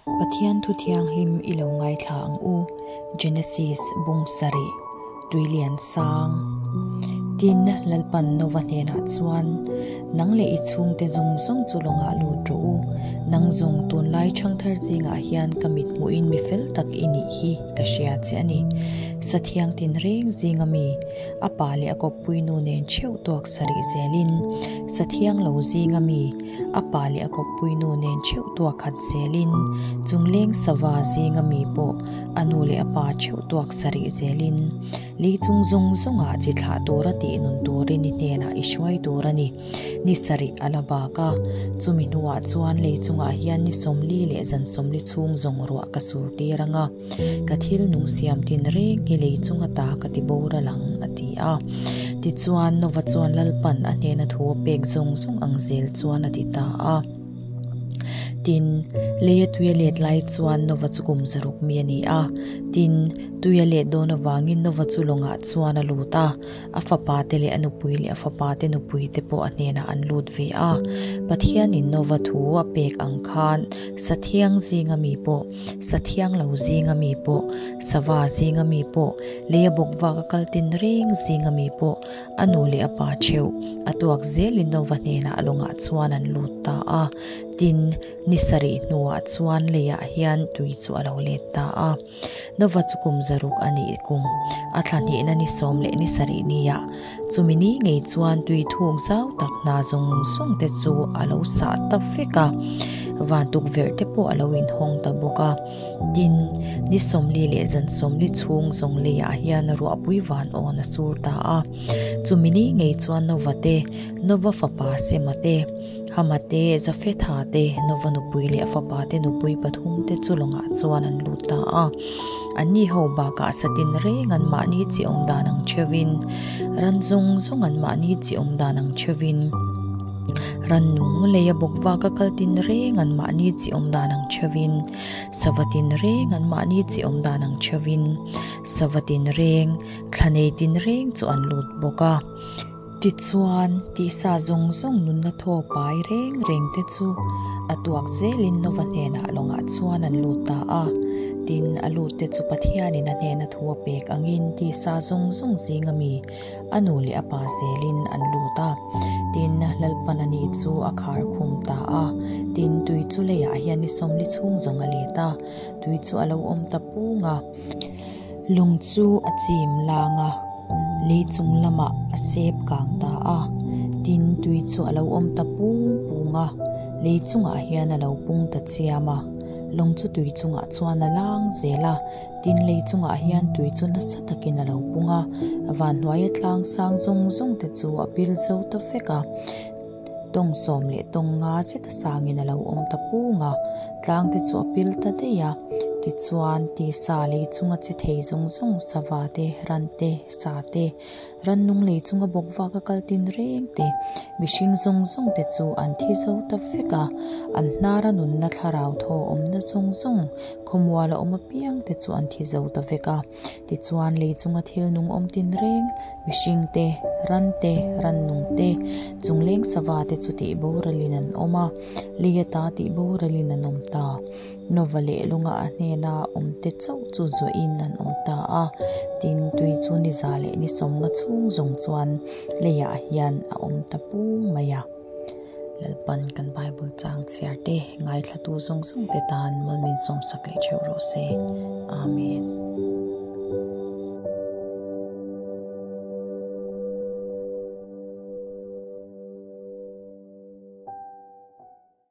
Pathian Thu Thianghlim i lo ngaithla ang u, Genesis bung sarih, Tuilian sang. Tin, Lalpan Nova hnenah chuan, Nang leh i chhungte zawng zawng chu lawngah lut rawh u, nang zawng tunlai chhang thar zingah hian ka mithmuhin mi fel tak i nih hi ka hria che a ni. Sathiang tin reng zing ami, a pa leh a kawppui nu nen chheuh tuak sarih zelin, Sathiang lo zing ami, a pa leh a kawppuinu nen theuh tuak khat zelin, chungleng sava zinga mi pawh a nu leh a pa theuh tuak sarih zelin, Li chung zawng zawng ah chi thlah tur a tih nun tur i ni hnenah i hruai tur a ni. Ni sarih a la bak a, chumi hnuah chuan Li chungah hian ni sawmli leh zan sawmli chhung zawng ruah ka surtir ang a. Ka thil nung siam tin reng hi lei chunga ta ka ti bawr a lang, a ti a. Tichuan Nova chuan Lalpan a hnena thu a pek zawng zawng ang zel chuan a ti ta a. Tin, lei a tuia let lai chuan Nova chu kum zaruk mi a ni a. Tin, tuia let dawn avangin Nova chu lawngah chuan a lut a. A fapa te leh a nupui leh a fapa te nupui te pawh a hnenah an lut ve a. Pathianin Nova thu a pek ang khan sathiang zinga mi pawh. sathiang lo zing ami pawh, sava zing ami pawh, lei a bawk vak a kal tin reng zing ami pawh a nu leh a pa theuh a tuak zel Lindova hnena a lawngah chuan an lut ta a. Tin, ni sarih hnuah chuan leiah hian tui chu a lo let ta a. Nova chu kum zaruk a ni kung, a thla hnehna ni sawm leh ni sarih nia, Chumi ni ngei chuan tui thuk zau tak hna zawng zawng te chu a lo sah ta fek a, van tukverh te pawh a lo in hawng ta bawk a. Tin, ni sawmli leh zan sawmli chhung zawng lei ah hian ruahpui van awn a sur ta a. Chumi ni ngei chuan Nova te, Nova fapa Sema te, Hama te, Jafetha te, Nova nupui leh a fapa te nupui pathum te chu lawngah chuan an lut ta a. An ni ho bakah satin reng an mahni chiawm dan ang theuhin, ran zawng zawng an mahni chiawm dan ang theuhin, ran nung lei a bawk va ka kal tin reng an mahni chiawm dan ang theuhin, sava tin reng an mahni chiawm dan ang theuhin, sava tin reng, thla nei tin reng chu an lut bawk a. Tichuan, tihsa zawng zawng nunna thaw pai reng reng te chu a tuak zelin Nova hnenah lawngah chuan an lut ta a. Tin, a lut te chu Pathianin a hnena thu a pek angin tihsa zawng zawng zinga mi a nu leh a pa zelin an lut a. Tin, Lalpan a nih chu a khar khum ta a. Tin, tui chu leiah hian ni sawmli chhung zawng a let a, tui chu a lo awm ta pung a. Lung chu a chim lang a, lei chung lamah a sep kang ta a, tin tui chu a lo awm ta pung pung a, lei chungah hian a lo pung ta chiam a, lung chu tui chungah chuan a lang zel a, tin lei chungah hian tui chu nasa takin a lo pung a, a vanhnuaia tlang sang zawng zawng te chu a bil zo ta vek a. tawn sawm leh tawn nga zeta sangin a lo awm ta pung a, tlang te chu a pil ta daih a, tichuan tisa lei chunga che thei zawng zawng, sava te, ran te, sa te, rannung lei chunga bawk vaka kal tin reng te, mihring zawng zawng te chu an thi zo ta vek a, an hnara nunna thlarau thaw awmna zawng zawng, khawmuala awm apiang te chu an thi zo ta vek a. Tichuan, lei chunga thil nung awm tin reng, mihring te, ran te, ran nung te, chungleng sava te chu tih boralhin an awm a, lei ata tih boralhin an awm ta. Nova leh lawnga a hnena awm te chauh chu zawhin an awm ta a, tin, tui chu niza leh nisawmnga chhung zawng chuan leiah hian a awm ta pung mai a. Lalpan kan Bible chang chhiar te, ngaithlatu zawng zawng te tan Mawlmin sawmsak leh theuh rawh se. Amen.